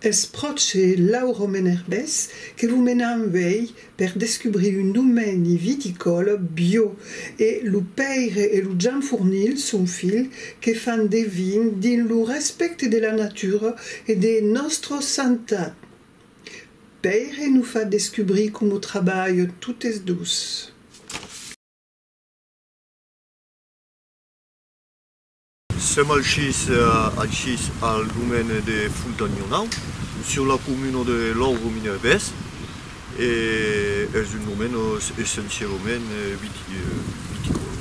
Es pròche Lauro Menerbès que vos menam uèi per descubrir un domeni viticòl biò. E lo pèire e lo jamfornil, son filh, que fan de vin dins lo respècte de la natura e de nòstra santat. Pèire nos fa descubrir como trabalhon totes dos. Sèm alchís alchís al domaine de Fontanhonau, sur la comuna de Lòuvro-Minerbés, e es un domaine essencialament viticòla.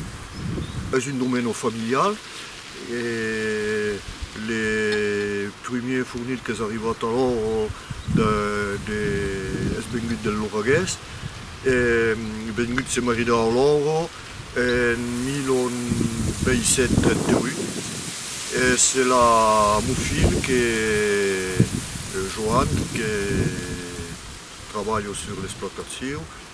Es un domaine familial E le primier fornit qu'es arribat a l'òro es vengut del Loragués, e vengut se maridar a l'òro en 1838, e se l'a mon filh que Joan que trabalha sur l'exploitacion.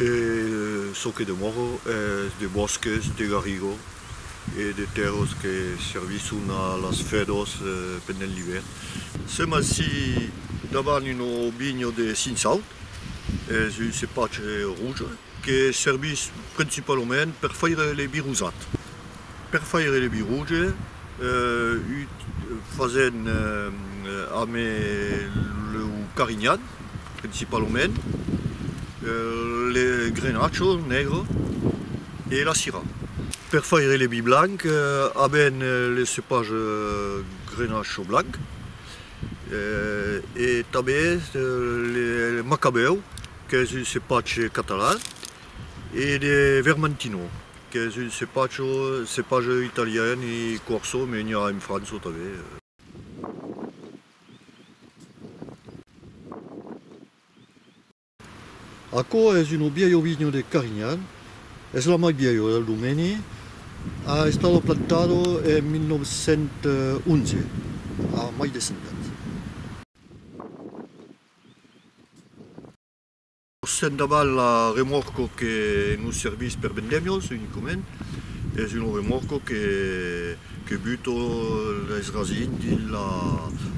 E çò que demòro es de bòsques de garrigo e de tèrros que servisson a las fedors pendent l'ivèrn. Sèm aicí davant un ovinho de Cinsaut, es un cepatge rouge que servís principalament per faire le birusat. Per faire le biroge fasen amb lo carinhat principalament, le grenacho negre e la cira. Per faire le vi blanc aben le cepage grenacho blanc e tanben le macabeu qu'es un cepatge catalan e de vermentino. Qu'es un cepatge, cepatge italian e corso, me n'i a en França tanben. Aquò es un bielho vinho de Carignan, es la mai bielho del domeni, a estado plantado en 1911, a mai de 100 ans. Sent davant la remorco que nos servís per vendèmios unicament, es una remorco que buto les rasins dins la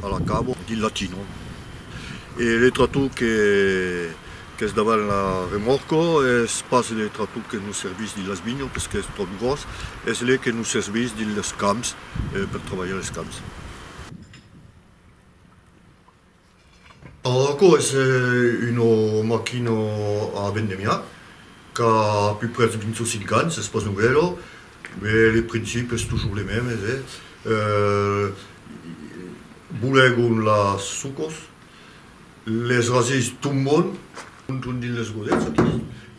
a la cabo dins la tino e le tractor qu'es davant la remorco es pas le tractor que nos servís dins las vinhas perque es tròp gròs, es le que nos servís dins los camps per trabalhar los camps. Aquò es una maquina a vendemia qu'a pus prètz de 25 ans, es pas novèla, mai le principi es tusjors le mèmes, bolegon las sucas, les rasés tombon, monton dins les godets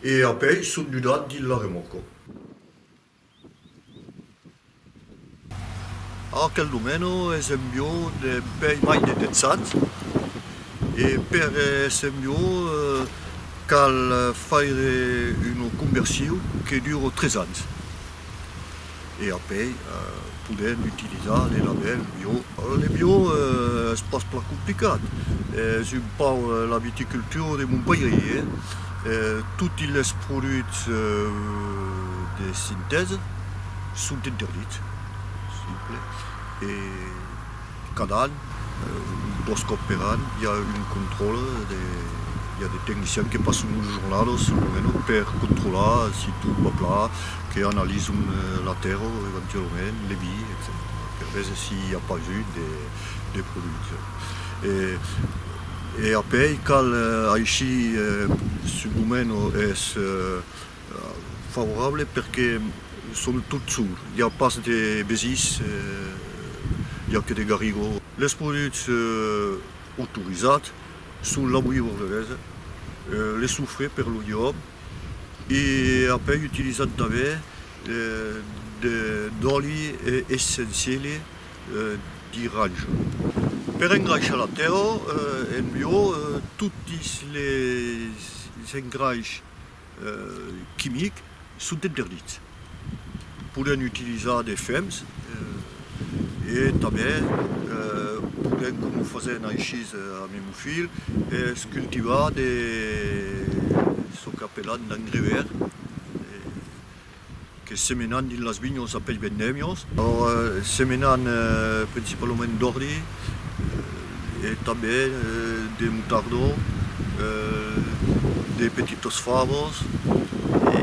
e apèi son dudat dins la remòrca. Aquel domeno es un biò d'un pèi mai detensat e per èsser un biò cal faire una conversion que dura tres ans e apeis Podèm utilizar de labèl bio. Le bio es pas plan complicat, es un pauc la viticultura de mon pairi. Toti les produchs de sintèsa son interdits, simple, e Cada an, dos còps per an, i a un contròle de, i a de tecnicians que passon una jornada o son luena per controlar si tot va plan, que analizon la tèrra o eventualament le vi, etcetèra, per veser si i a pas eu de produccion. E, e apèi cal aishir subdomeno es. Favorable perque son tot sour, i a pas de besís, i a que de garrigó. Los produchs autorizats son la bouillie bordelaise, le soufre per lo llop e apèi utilizat tanben d'òli essenciele d'iranja. Per engraishar la tèla en bio, totis les engraishs. quimic son interdits. Podèn utilizar de fems e tanben podèn coma fasèn aishís a mi mon filh es cultivar de çò qu'apelan d'engrais vert. que semenan dins las vinhas a pels vendèmios. Semenan principalament d'òrdi e tanben de motardó, de petitas favas e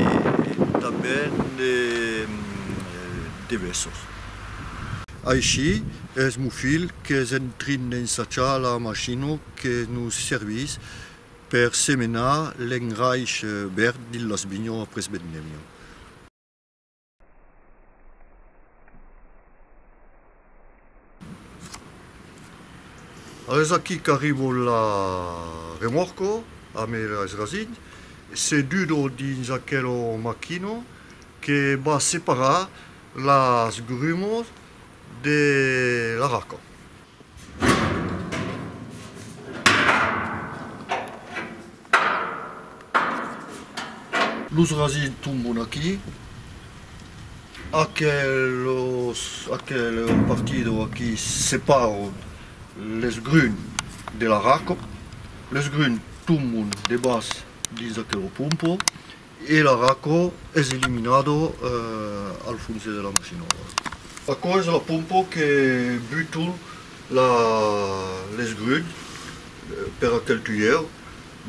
tanben de vèsses. Aicí es mon filh qu'es en trin d'ensajar la machina que nos servís. Per semenar l'engraish verd dins las vinhons après vendemia. Es aquí qu'arribo la remorco amb es rasin se dudo dins aquel maquino que va separar las grumos de la raca. Los rasins tombon aquí, aquelos aquel partido aquí separo les grun de la raco, les grun tombon debas dins aquelo pompo E la r'aquò es eliminado al fonse de la masinòla. Aquò es la pompo que buto la l'esgrun per aquel tuièr,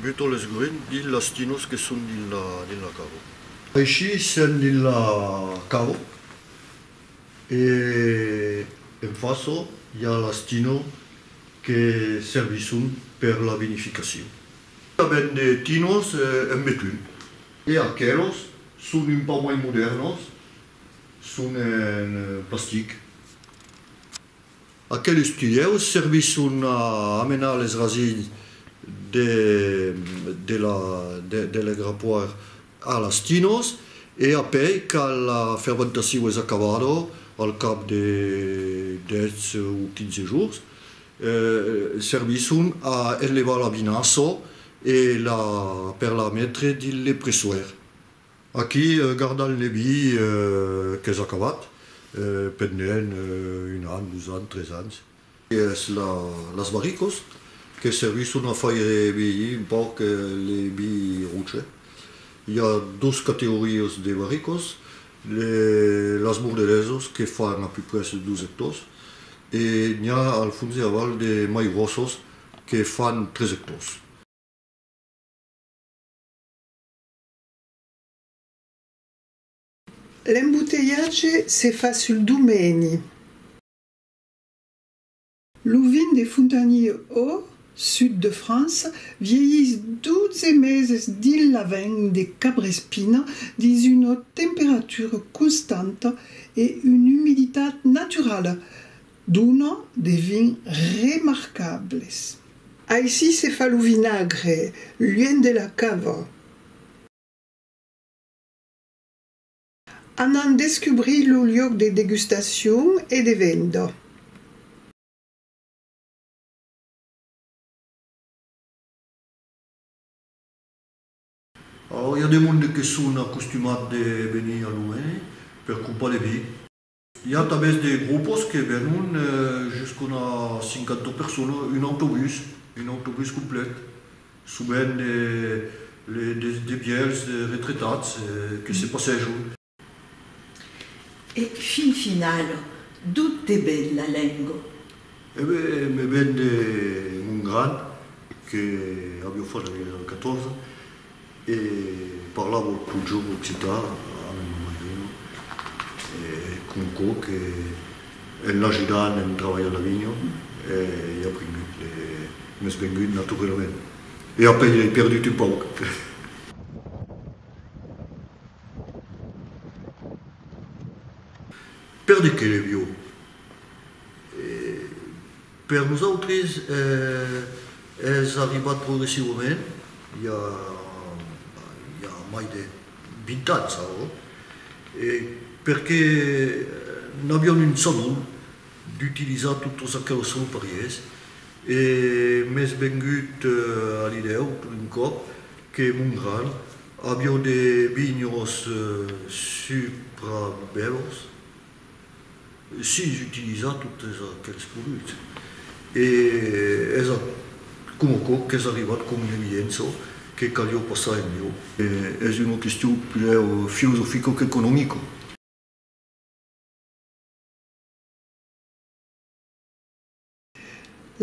buto l'esgrun dins las tinos que son dins la dins la cavo. Aicí sèm dins la cavo e en façò i a las tino que servisson per la vinificacion. Tanben de tinos en betun. E aquelos son un pauc mai modèrnos, son en plastic. Aqueles tuieus servisson a amenar les rasinhs de lei grapoir a las tinos e apèi quand la fermentacion es acabada, al cap de 10 o 15 jorns, Servisson a enlevar la vinassa e la per la metre dins le pressoèr. Aquí gardan le vi qu'es acabat pendent un an, dos ans, tres ans. Es las barricas que servisson a faire vielhir un pauc le vi roche. I a dos categorias de barricas. Las Bordelèsas que fan a peu près 12 ectors e n'i a al fons e aval de mai gròsas que fan 3 ectors. L'embotelhatge se fa sul domèni. Lo vin de Fontanilh au sud de França vielhís 12 meses dins la vèn de Cabrespina dins una temperatura constanta e una umiditat naturala, dona de vins remarcables. Aicí se fa lo vinagre, luènh de la cava. Anam descubrir lo luòc de degustacion e de venda. Au i a de monde que son acostumats de venir a Louvain per crompar de vi. I a tanben de grupos que venon jusqu'una cinquanta personas, un autobús, un autobús complet, sovent de vièlhs retretats que se passèjon. E fin final, d'o te ven la lenga? E ben, me ven de mon gran, que aviá fach la 14, E parlavo totjorn occitan amb mon marilh e com aquò que en l'ajudant en trabalhar la vinha ei aprengut e m'es vengut naturelament e apen ei perdut un pauc. Perdut que le viu e. Per nosautres es arribat progressivament, i a mai de 20 ans aurò, perque n'avion un salon d'utilizar totes aqueles solparièrs e m'es vengut a l'idèu tot d'un còp que mon gran avió de vinhos suprabèlos, Sis utilizar totes aquels produchs e es a coma quò qu'es arribat com una evidença que calió passar en mió. Es una question puder filosofica qu'economica.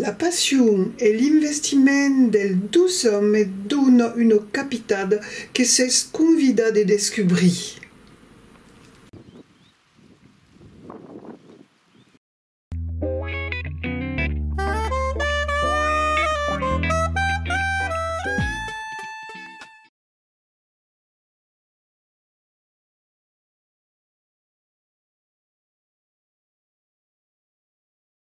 La passion e l'investiment del dus òmes me dona una capitat que s'es convidat de descubrir.